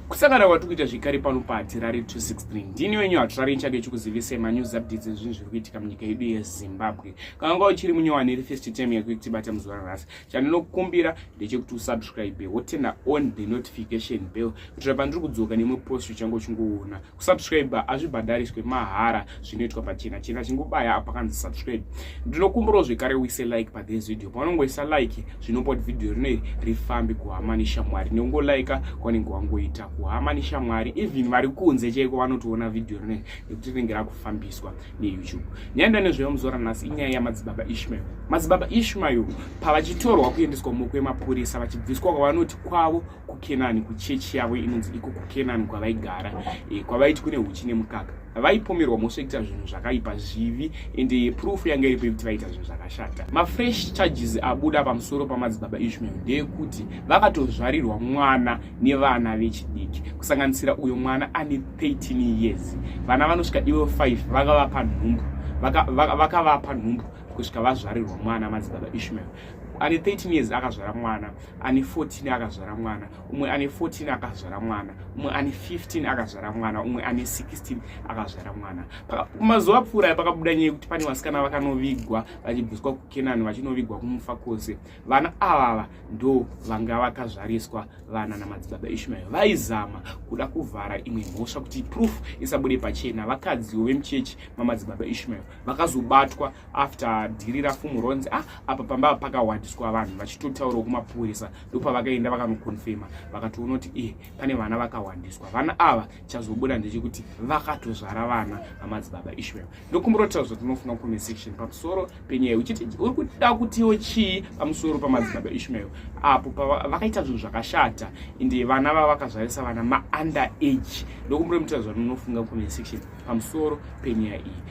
kusangana kwatiri kuita zvekare pano pahatirari 263 ndini wenyu hatirari nchake chikuzivisai manews updates ezvinhu zviri kuitika munyika yedu yezimbabwe kana unga uchiri munyowani iri first term yako yekutibata muzuva ranhasi chandinokumbira ndechekuti usubscribe wotena on the notification bell kuitira pandiri kudzoka nemwe post uchange uchingoona kusubscribe hazvibhadhariswe mahara zvinoitwa pachena chena chingobaya apakanzi subscribe ndinokumbirawo zvekare uise like pathis video paunongoisa like zvinopa kuti video rino iri rifambe kuhama neshamwari neungolaika kwaunenge wangoita kuhama neshamwari even vari kunze chaiko vanotoona video rino iri nekuti rinenge rakufambiswa neyoutube nyaya ndanezveyo muzora nhasi inyaya yamadzibaba ishmael madzibaba ishmael pavachitorwa kuendeswa mumaoko emapurisa vachibviswa kwavanoti kwavo kukenani kuchechi yavo inonzi iko kukenani kwavaigara e, kwavaiti kune huchi nemukaka vaipomerwa mhosva yekuita zvinhu zvakaipa zvivi ende eh, proof yanga iripo yekuti vaita zvinhu zvakashata mafresh charges abuda pamusoro pamadzibaba ishmael ndeyekuti vakatozvarirwa mwana nevana vechidiki kusanganisira uyo mwana ane 13 years vana vanosvika ivo 5 vakavapa nhumbu vakavapa vaka, vaka nhumbu kusvika vazvarirwa mwana madzibaba ishmael ane 13 years akazvara mwana ane 14 akazvara mwana umwe ane 14 akazvara mwana umwe ane 15 akazvara mwana umwe ane 16 akazvara mwana mazuva apfuura aya pakabuda nyaya yekuti pane vasikana vakanovigwa vachibviswa kukenani vachinovigwa kumufa kwose vana avava ndo vanga vakazvariswa vana namadzibaba ishmael vaizama kuda kuvhara imwe mhosva kuti proof isabude pachena vakadziwo vemuchechi mamadzibaba ishmael vakazobatwa after dhiri rafumuronzi ah apa pamba pakahwadiswa vanhu vachitotaurawo kumapurisa ndopavakaenda vakanokonfema vakatoona kuti e pane vana vakahwandiswa vana ava chazobuda ndechekuti vakatozvara vana amadzibaba ishmael ndokumboratidza kuti tinofunga comment section pamusoro penyaya uchiti uri kuda kutiwo chii pamusoro pamadzibaba ishmael apo vakaita zvinhu zvakashata ende vana vava vakazvarisa vana maunderer age ndokumboratidza kuti tinofunga comment section pamusoro penyaya iyi